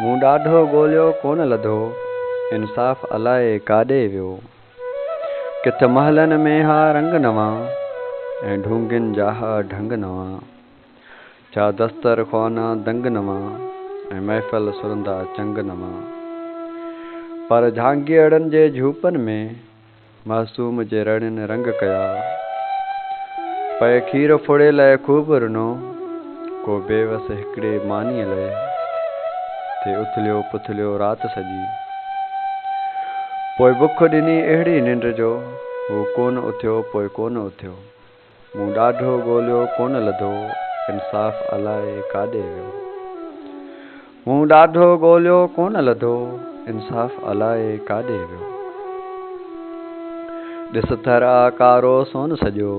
مون ڏاڍو ڳوليو ڪونه لڌو، انصاف الائي ڪاڏي ويو. ڪٿ محلن ۾ ها رنگ نوان، ۽ ڍونگين جا ها ڍنگ نوان. ڇا دستر خوانا دنگ نوان، ۽ محفل سرندا چنگ نوان. پر جهانگيئڙن جي جهوپن ۾. معصوم جي رڙين رنگ ڪيا. پئي کير ڦڙي لئه خوب رنو. ڪو بي وس هڪڙي مانيء لئه. ٿي اٿليو پٿليو رات سڄي. پوء بک ڏني اهڙي ننڊ جو. هو ڪونه اٿيو پوء ڪونه اٿيو. مون ڏاڍو ڳوليو ڪونه لڌو انصاف الائي ڪاڏي ويو مون ڏاڍو ڳوليو ڪونه لڌو انصاف الائي ڪاڏي ويو ڏس ٿر آ ڪارو سون سڄو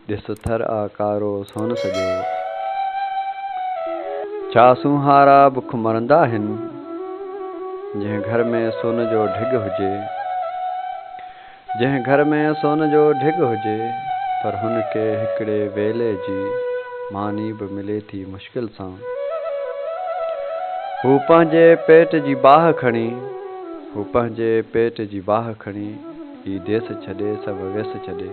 ڏس ٿر آ ڪارو سون سڄو ڇا سونهارا بک مرندا آهن جنهن گهر ۾ سون جو ڍڳ هجي جنهن گهر ۾ سون جو ڍڳ هجي پر هن کي هڪڙي ويلي جي ماني به ملي ٿي مشڪل سان. هو پنهنجي پيٽ جي باهه کڻي هو پنهنجي پيٽ جي باهه کڻي هي ديس ڇڏي سڀ ويس ڇڏي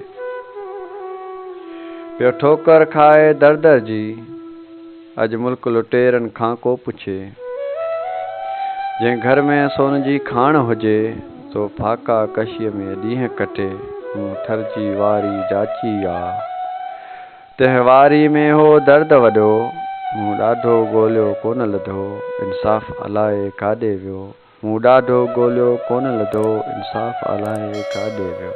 پيو ٺوڪر کائي در در جي. اڄ ملڪ لٽيرن کان ڪو پڇي. جنهن گهر ۾ سون جي کاڻ هجي. سو ڦاڪا ڪشيء ۾ ڏينهن ڪٽي. مون ٿر جي واري جاچي آ. تنهن واري ۾ هو درد وڏو. مون ڏاڍو ڳوليو ڪونه لڌو. انصاف الائي ڪاڏي ويو. مون ڏاڍو ڳوليو ڪونه لڌو. انصاف الائي ڪاڏي ويو.